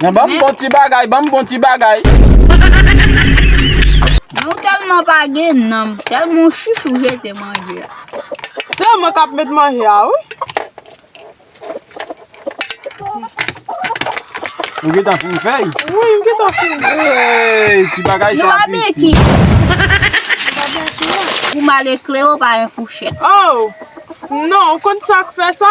Mwen banm bon ti bagay, banm bon ti bagay. Men ou telman pa gen nanm, telman ou chich ou jete manje a. Se mwen kap met manje a wi. Ou gentan fin fey? Wi m gentan fin. Eyy ti bagay sa Christie. Nou pa beki. Pou mal ekle ou pa yon fouchet. Oh! Non, ou konn sak fe sa?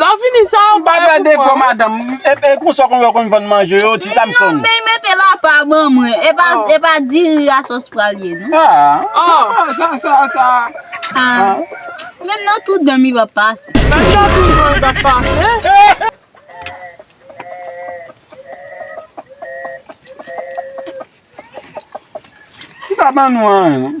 Lò fini sa ou bay pou mwen wi. Epi konsa ou konn wè konn vann manje yo ti Samson. Mezanmi li mete lapa ban mwen. E pa diri a sos pral ye non. Haa sa sa sa. Haa menm nan tou danm li pap pase. Menm nan tou danm li pap pase. Li pa ban nou anyen non.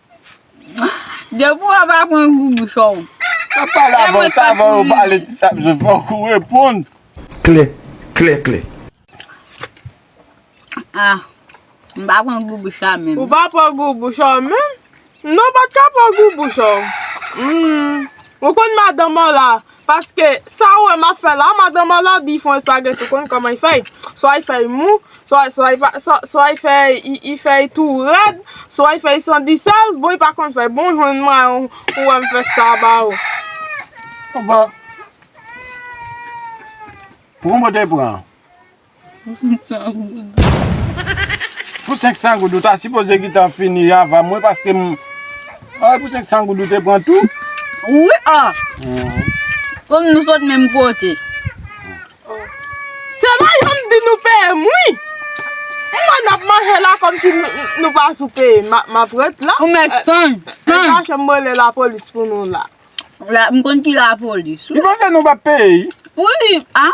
Depi w ap aprann gou bouch ou. Map pale avè w sa avan yo pale ti sa bzwen fok ou reponn. Klè, klè, klè. Ah m pa pran gou bouch la menm. Ou pa pran gou bouch ou menm? Non ou pat ka pran gou bouch ou. Humm ou konn madanm ou la Paske sa ou wè map fè la madan Marla di fon espageti ou konn kòman li fèy swa li fèy mou swa li fèy tou rèd swa li fèy san di sèl bon li pa konn fèy bon jwenn mwen an ou wè m fè sa ba ou Pou konbòt ou pran an. Pou 500 goud. Pou 500 goud ou ta sipoze gitan fini avan mwen paske m. Ay pou 500 goud ou te pran tou. Wi ah. Kòm nou sot menm kote. Se la yo m di nou peye m wi. Kouman n ap manje la kòmsi nou pa sou peye m. M ap ret la. Ou mèt tann. Tann. Ou chache m rele lapolis pou nou la. M konn ki lapolis. Li panse nou pa peye. Pou li ah.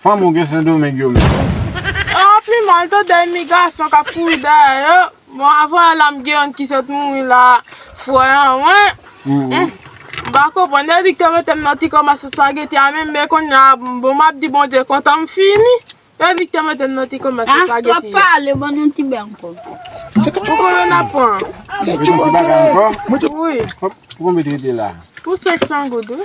Fanm ou gen sendomeng yo menm. Yo ap pi mal to dèy mi gason kap kouri dèyè yo bon avwa la m gen youn ki sot mouri la frè an mwen m pa konprann yo di k te mete m nan ti koma sou spageti a menm men kounya bon map di bondye kontan m fini yo di k te mete m nan ti koma sou spageti a. Twòp pale ban nou ti bè ankò. Pou konbyen nap pran? Pou konbyen t rete la? Pou 500 goud wi.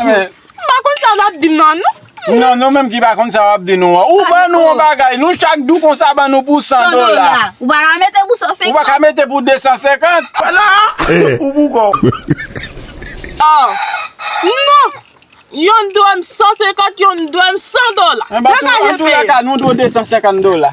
Mwen pa konn sa wap di m nan non. Non nou menm ki pa konn sa wap di nou an. Ou ban nou yon bagay, nou chak di w konsa ban nou pou 100 dola. Ou pa ka mete pou 150. Ou pa ka mete pou 250. Wala! Ou pou kò w. Aww. Non! Yon dwèm 150, yon dwèm 100 dola. Dega je peye. Antoulaka nou dwe 250 dola.